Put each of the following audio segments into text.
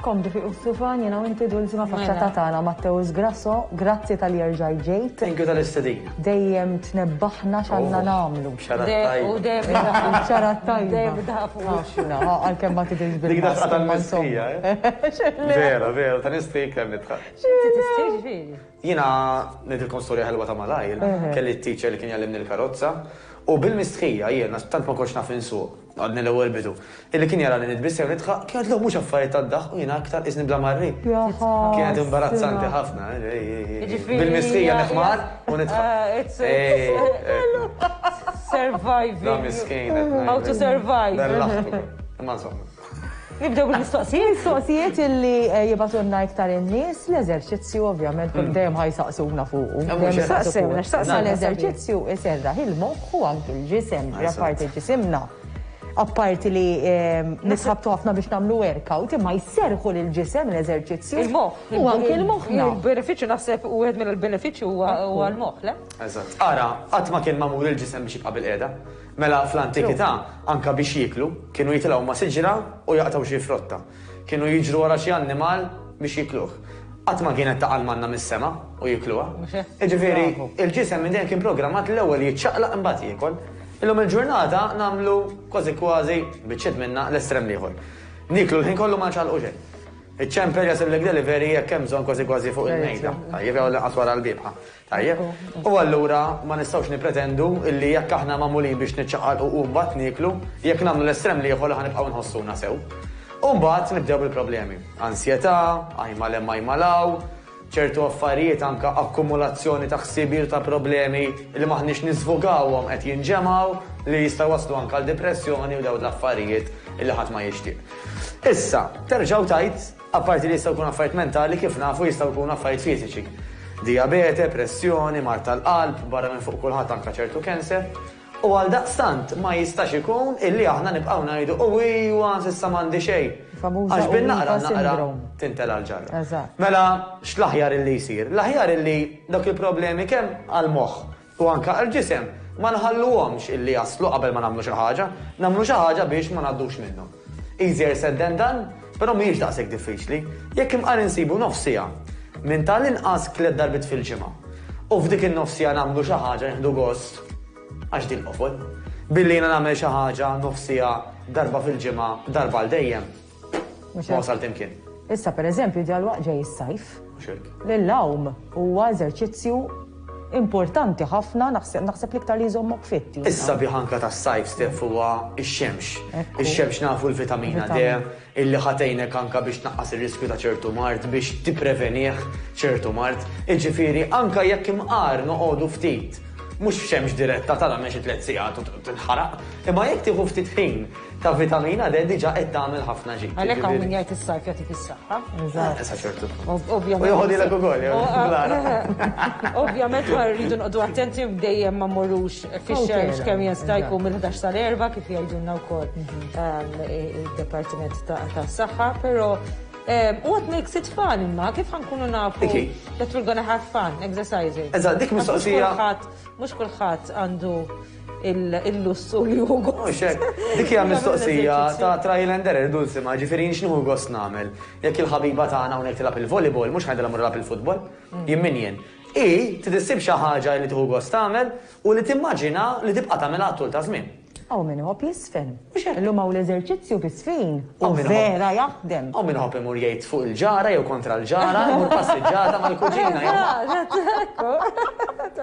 Komdu fi Ussufan, jena u inti dulzima mela. faċċata tagħna Matteus Grasso, grazzi tal-jerġaj ġejt. Thank you tal-istedin. Dejjem tnebbaħna x'għandna oh, nagħmlu. U dejjem xarat tajba. Dejjem dafu. Għalkemm ma tidilx bil Dik daqqa tal-mistija. Eh? Vera, vera, ta' nistik kemm nitħaq. Jena nidilkom storja ħelwa ta' malajr, kelli t-teacher li kien jallimni l-karozza, u bil-mistħija jena tant ma konx naf insuq. Għadni l-ewwel bidu. Illi kien jarani nitbiss jew nidħaq, kien għidlu mhux affarijiet tad-daħq u jiena aktar qisni bla marri. Kienet imbarazzanti ħafna. Bil-mistħija neħmar u nidħaq. Surviving. How to survive. Imma insomma. Nibdew bil-mistoqsijiet? Mistoqsijiet illi jibgħatulna iktar in-nies, l-eżerċizzju ovvjament kull dejjem ħa jsaqsuna fuqu. Saqsewna, saqsewna. L-eżerċizzju iserraħ il-moħħ u anki l-ġisem, ġra parti ġisimna. Apparti li nisħabtu ħafna biex nagħmlu workout, imma jserrħu lill-ġisem l-eżerċizzju. Il-moħħ. U anki l-moħħna. Il-benefiċċju naħseb u wieħed mill-benefiċċji huwa l-moħħ, le? Eżatt. Ara, qatt ma kien magħmul il-ġisem biex jibqa' bil-qiegħda. Mela fl-antikità, anke biex jieklu, kienu jitilgħu ma' siġra u jaqtgħu xi frotta. Kienu jiġru wara xi annimal biex jikluh. Qatt ma kienet taqa' l-manna mis-sema u jikluha. Jiġifieri, il-ġisem minn dejjem kien programmat l-ewwel jiċċaqlaq imbagħad jiekol. Illum il-ġurnata nagħmlu, kważi kważi, biċċiet minnha, l-estrem l-ieħor. Nieklu l-ħin kollu ma nċaqlqu xejn. Iċ-ċemper jasillek delivery jekk hemm bżonn kważi kważi fuq il-mejda, tajjeb, jew għall-inqas wara l-biebħa. Tajjeb, u allura ma nistgħux nippretendu li jekk aħna magħmulin biex niċċaqalqu u mbagħad nieklu, jekk nagħmlu l-estrem l-ieħor li ħa nibqgħu nħossuna sew. U mbagħad nibdew bil-problemi. Ansjetà, għajm għal hemm għajm għal hawn, ċertu affarijiet anke akkumulazzjoni ta' ħsibijiet u ta' problemi li m'aħniex niżvugawhom qed jinġemgħu li jistgħu jwasslu anke għal dipressjoni u dawn l-affarijiet li ħadd ma jixtieq. Issa, terġa' u tgħid, Apparti li jistgħu jkunu affarijiet mentali, kif nafu jistgħu jkunu affarijiet fiżiċi. Dijabete, pressjoni, mard tal-qalb, barra minn fuq kulħadd anke ċertu cancer. U għaldaqstant ma jistax ikun illi aħna nibqgħu ngħidu u ijwa s'issa m'għandi xejn. Għax bil naqra naqra tintela' l-ġarra. Mela x'l-aħjar illi jsir? L-aħjar illi dawk il-problemi kemm għall-moħħ, U anke għall-ġisem, ma nħalluhomx illi jaslu qabel ma nagħmlu xi ħaġa, nagħmlu xi ħaġa biex ma ngħaddux minnhom. Easier said than done, però mhijiex daqshekk diffiċli. Jekk imqar insibu nofs siegħa, minn ta' l-inqas tliet darbiet fil-ġimgħa, u f'dik in-nofs siegħa nagħmlu xi ħaġa nieħdu gost, għax din qofol. Billi jiena nagħmel xi ħaġa nofs siegħa darba fil-ġimgħa, darba għal dejjem, Ma wasalt imkien. Issa per eżempju ġalwaqt ġej is-sajf. L-lawm huwa eżerċizzju importanti ħafna naħseb l-iktar li jżommok fit. Issa biħanka tas-sajf stef huwa x-xemx. Ix-xemx nafu l-vitamina D illi ħatejnek anka biex tnaqqas ir-riskju ta' ċertu mard biex tipprevenih ċertu mard. Iġifieri anka jekk imqar noqogħdu ftit mhux f'xemx diretta tara mexi tliet sigħat u tinħaraq, imma jekk tieħu ftit ħin ta' vitamina D diġa qed tagħmel ħafna ġid. Għalhekk hawn min jgħid is-sajf jagħtik is-saħħa. Eżatt. Sa ċertu. Ovvjament. U joħodilek ukoll. Ovvjament ma rridu noqogħdu attenti dejjem ma morrux fix-xemx kemm jista' jkun mill-11 sal-erba' kif jgħidulna wkoll mhm. ehm, id-Departiment tas-Saħħa, però Um, what makes it fun imma, kif ħankunu nafu that we're gonna have fun exercising. Eżatt, dik mistoqsija. Mux kullħat għandu il-lussu li hu gost. Dik hija mistoqsija ta' trial and error dulsi ma ġifieri x'nuhu gost nagħmel. Jekk il-ħabiba tagħna hawnhekk tilab il-volleyball mhux ħajdilha mur lab il-futbol. Mm. Jien min jien. I tidissib xi ħaġa li tieħu gost tagħmel u li timmaġina li tibqa' tagħmilha tul ta' żmien. Aw min iħobb jisfen. U x'għedt? Illum hawn l-eżerċizzju bi Sfin. U vera jaħdem! U min iħobb imur jgħid fuq il-ġara jew kontra l-ġara, imur passiġġata mal-kuġina jew ma'. Eżatt, eżatt, ekku.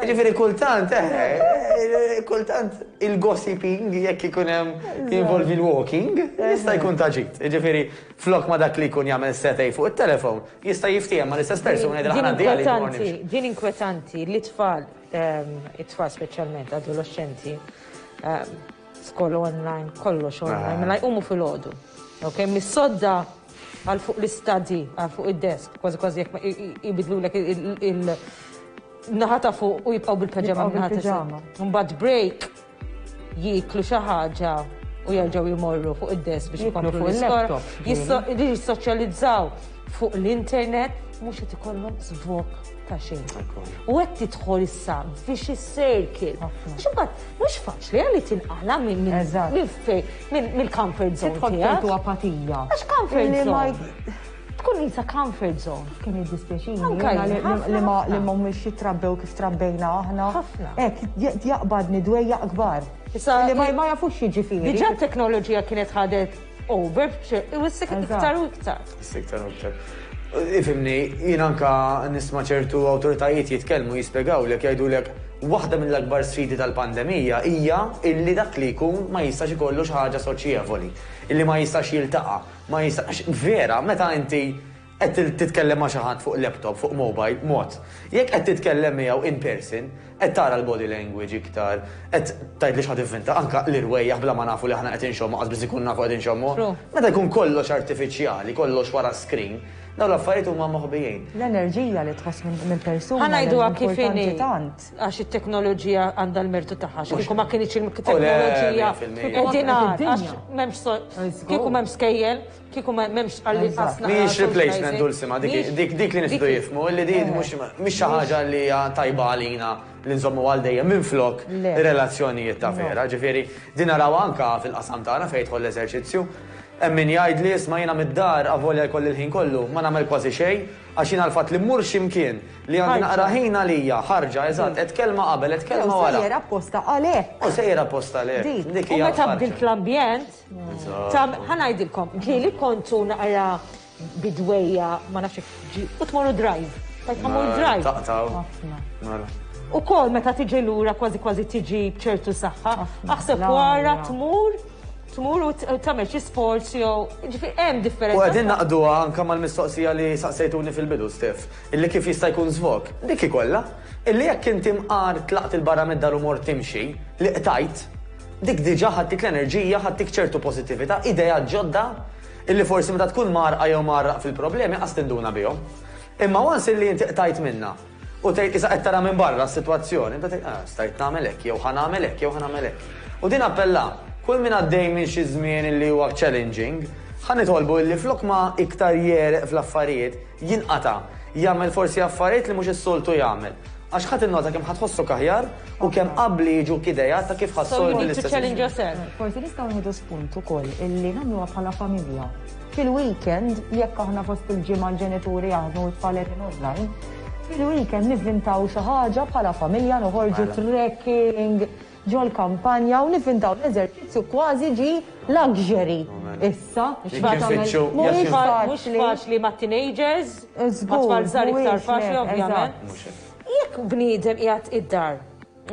Jiġifieri kultant, eħe, kultant il-gossiping, jekk ikun hemm, jinvolvi l-walking, jista' jkun ta' ġid. Jiġifieri flok ma dak li jkun jagħmel setgħi fuq it-telefon, jista' jiftiehem mal-istess persuna jgħidilha ħa ngħaddi għalik imorru nimxu. Din inkwetanti li t-tfal, it-tfal speċjalment, adoloxxenti, Skol online, kollox online, ah. mela jqumu fil-ħodu. Ok, mis-sodda għal fuq l-istadi, għal fuq id-desk, kważi kważi jek jibidlu l il-naħata fuq u jibqaw bil-pajama naħata. Mbagħad break jiklu xi ħaġa u jarġaw jimorru fuq id-desk biex jiklu fuq il-laptop. Jissoċjalizzaw fuq l-internet mhux qed ikollhom żvok ta' xejn. U qed tidħol issa vicious circle. Għax imbagħad mhux faċli li tinqala minn mill-comfort zone. Tidħol ċertu apatija. Għax comfort zone. Tkun isa comfort zone. Kien id-dispjaċini. Li ma li ma mhux jitrabbew kif trabbejna aħna. Ħafna. Ek, jaqbadni dwejja akbar. Li ma jafux jiġifieri. Diġà t-teknoloġija kienet ħadet U birbċe, u s-sik iktar u iktar. S-sik iktar u iktar. Ifimni, jien anka nisma ċertu autoritajiet jitkellmu jispjegaw li jgħidu lek waħda mill-akbar sfidi tal-pandemija hija illi dak li jkun ma jistax ikollu xi ħaġa soċjevoli, illi ma jistax jiltaqa, ma jistax vera meta inti Qed titkellem ma' xi ħadd fuq laptop, fuq mobile, mod. Jekk qed titkellem miegħu in person, qed tara l-body language iktar, qed tgħid li xi ħadd ivvinta anke l-irwejjaħ bla ma nafu li aħna qed inxommu, qatt biss inkunu nafu qed inxommu. Meta jkun kollox artifiċjali, kollox wara screen, dawn l-affarijiet huma moħbijin. L-enerġija li tħoss minn persuna hija importanti tant. Ħa ngħiduha kif inhi, għax it-teknoloġija għandha l-mertu tagħha, għax kieku ma kienitx it-teknoloġija, kieku qegħdin għar, għax m'hemmx, kieku m'hemm skejjel, Kieku m'hemmx stqarrija ta' Eżatt. snaħħa Mhijiex replacement socializing. Dulsima, dik Mhijiex- dik dik li nistgħu dik- jifhmu, li di Eh. mhux mhix xi ħaġa li hija tajba għalina li nżommu għal dejjem minflok Le. relazzjonijiet ta' No. vera. Ġifieri, din narawha anke fil-qasam tagħna fejn jidħol l-eżerċizzju. Hemm min jgħidli isma' jiena mid-dar avolja jkolli l-ħin kollu, ma nagħmel kważi xejn għax jiena l-fatt li mmur xi mkien li għandi Ħarġa. naqra ħin għalija, ħarġa, eżatt, qed kelma qabel, qed kelma Jew wara. sejjer apposta għalhekk. U sejjer apposta le. Dik. Dik U hija meta l-ħarġa. bdilt l-ambjent, Ħanajdilkom, li kontu naqra bidweja ma nafx ġi, u tmorru drive. Tajt ħamur drive. Taqtaw. U kol meta tiġi lura kważi kważi tiġi bċertu saħħa, aħseb wara tmur tmur u tagħmel xi sports jew ġifi hemm differenza. U qegħdin naqduha anke mal-mistoqsija li saqsejtuni fil-bidu Stef, illi kif jista' jkun żvok. Dik ikollha, illi jekk inti mqar tlaqt il-barra mid-dar u mort timxi, li qtajt, Dik diġà ħadtik l-enerġija, ħadtik ċertu pożittività, ideat ġodda illi forsi meta tkun mgħarrqa jew mgħarraq fil-problemi qas tinduna bihom. Imma once illi inti qtajt minnha u tgħid isa qed tara minn barra s-sitwazzjoni, inti tgħid ah, stajt nagħmel hekk jew ħa nagħmel hekk jew ħa nagħmel hekk. U din appella, kull min għaddej minn xi żmien illi huwa challenging, ħa nitolbu illi flok ma iktar jereq fl-affarijiet, jinqata', jagħmel forsi affarijiet li mhux is-soltu jagħmel. Għax ħadd innota kemm ħa tħossok aħjar u kemm qabbli jiġuk ideat ta' kif ħa ssolvi l-istess issue. Forsi nistgħu nieħdu spunt ukoll illi nagħmluha bħala familja. Fil-weekend, jekk aħna fost il-ġimgħa l-ġenituri jaħdmu u t-tfal qegħdin online, fil-weekend nivvintaw xi ħaġa bħala familja noħorġu trekking, ġol-kampanja u nivvintaw l-eżerċizzju kważi ġie luxury issa. Mhuwiex faċli. Mhux faċli mat-teenagers, mat-tfal żgħar iktar faċli ovvjament. Jekk bniedem qiegħed id-dar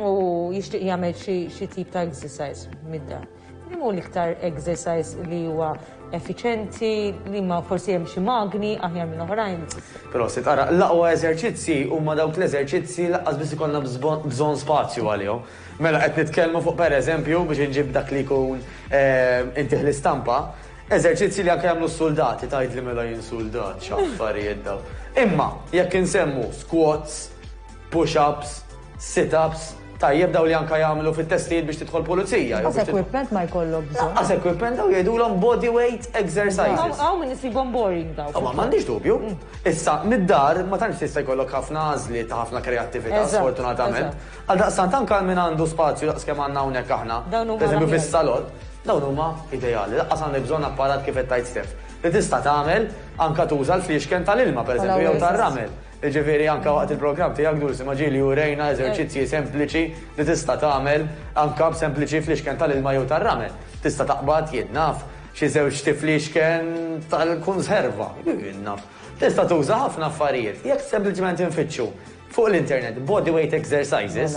u jixtieq jagħmel xi tip ta' exercise mid-dar. Li hu l-iktar exercise li huwa effiċenti, li ma forsi hemm xi magni aħjar minn oħrajn. Però se tara l-aqwa eżerċizzi huma dawk l-eżerċizzi laqqas biss ikollna bżonn spazju għalihom. Mela qed nitkellmu fuq pereżempju biex inġib dak li jkun eh, intih l-istampa, eżerċizzi li anke jagħmlu s-suldati tgħidli mela jien suldat x'affarijiet daw. Imma jekk insemmu squats, push ups, sit ups, tajjeb daw li anka jagħmlu fit-testijiet biex tidħol pulizija. Għas equipment ma jkollok bżonn. Għas equipment daw jgħidulhom body weight exercises. Għaw minn isibhom boring daw. Ma m'għandix dubju. Mm. Issa mid-dar ma tantx tista' jkollok ħafna għażli ta' ħafna kreattività sfortunatament. Għal daqstant anka minn għandu spazju daqs kemm għandna hawnhekk aħna. Eżempju fis-salon, dawn huma ideali. Laqqas għandek bżonn apparat kif qed tajt Stef. Li tista' tagħmel anka tuża l-fliexken tal-ilma pereżempju jew tar-ramel. Jiġifieri anke waqt il-programm tiegħek Dulcie ma' Ġieli urejna eżerċizzji sempliċi li tista' tagħmel anke b'sempliċi fl-ixken tal-ilma jew tar-ramel. Tista' taqbad, jien naf, xi żewġ xti fl-ixken tal-kunserva, jien naf. Tista' tuża ħafna affarijiet jekk sempliċement infittxu fuq l-internet bodyweight exercises.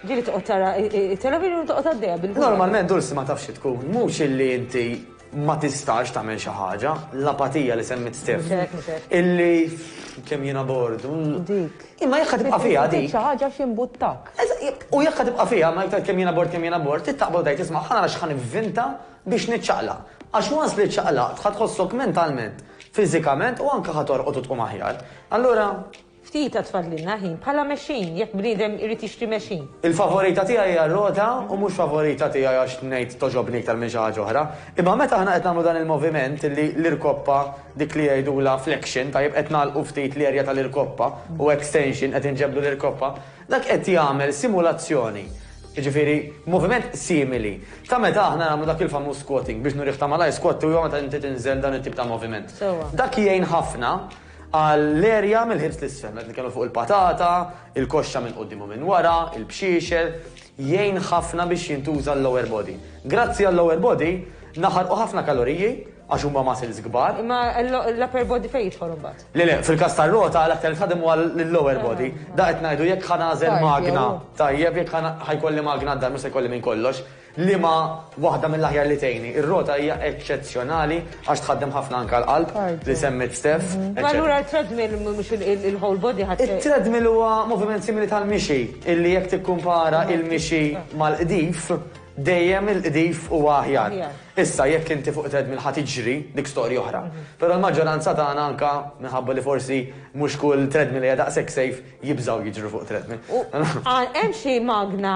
Ġili toqgħod tara it-television u toqgħod għaddejja bil Normalment Dulsi ma tafx tkun, mhux illi inti ma tistax tagħmel xi ħaġa, l-apatija li semmit Stef. Illi kemm jiena bord. Dik. Imma jekk tibqa' fiha dik. Xi ħaġa xi mbuttak. U jekk tibqa' fiha ma jgħid kemm jiena bord kemm jiena bord, tittaqbel dajt isma' ħana għax ħan ivvinta biex niċċaqla. Għax once li ċċaqlaqt ħad tħossok mentalment, fiżikament u anke ħad torqod u tqum aħjar. Allura Ftit għad fadlilna ħin bħala mexjin jekk bniedem irid jixtri mexjin. Il-favorita tiegħi hija r-rota u mhux favorita tiegħi għax ngħid togħġobni iktar minn xi ħaġa oħra. Imma meta aħna qed nagħmlu dan il-moviment illi l-irkoppa dik li jgħidulha flexion, tajjeb qed nagħlqu ftit l-erja tal-irkoppa u extension qed inġebbdu l-irkoppa, dak qed jagħmel simulazzjoni, jiġifieri moviment simili ta' meta aħna nagħmlu dak il-famuż squatting, biex nurih ta' malajr squat huwa meta inti tinżel dan it-tip ta' moviment. Dak jgħin ħafna. għall-erja mill-ħibs l-isfel, qed nitkellmu fuq il-patata, il-koxxa minn quddiem u minn wara, il-bxiexel, jgħin ħafna biex jintuża l-lower body. Grazzi għal-lower body, naħarqu ħafna kaloriji għax huma muscles kbar. Imma l-upper body fejn jidħol imbagħad? Le le, fil-każ tar-rota l-aktar tħadem huwa l-lower body. Da qed ngħidu jekk ħanażel magna, tajjeb jekk ħajkolli magna d-dar mhux se jkolli minn kollox. Liema waħda mill-aħjar li tgħinni? Ir-rota hija eċċezzjonali għax tħaddem ħafna anke l-qalb, li semmiet Steph, eċċetera. Allura t-treadmill mhux il-whole body ħadd. It-treadmill huwa moviment simili tal-mixi, illi jekk tikkumpara l-mixi mal-qdif, dejjem il-qdif huwa aħjar. Issa jekk inti fuq treadmill ħa tiġri, dik storja oħra. Però l-maġġoranza tagħna anke minħabba li forsi mhux kull treadmill hija daqshekk safe, Jibżgħu jiġru fuq treadmill. U hemm xi magna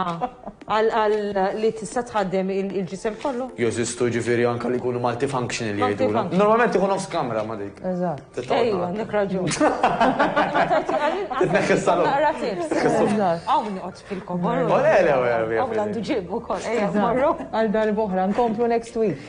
għal li tista' tħaddem il-ġisem kollu? Jeżistu ġifieri anke li jkunu multifunctional li jgħidulhom. Multifunctional. Normalment ikun nofs kamra ma' dik. Eżatt. Titgħoddna. Ejja, għandek raġun. Titneħħi s-salon. Naqra tips. Eżatt. Hawn noqgħod fil-kobor. Ole, ole, ole. Hawn għandu ġieb ukoll. Ejja, morru. Għal darb'oħra, nkomplu next week.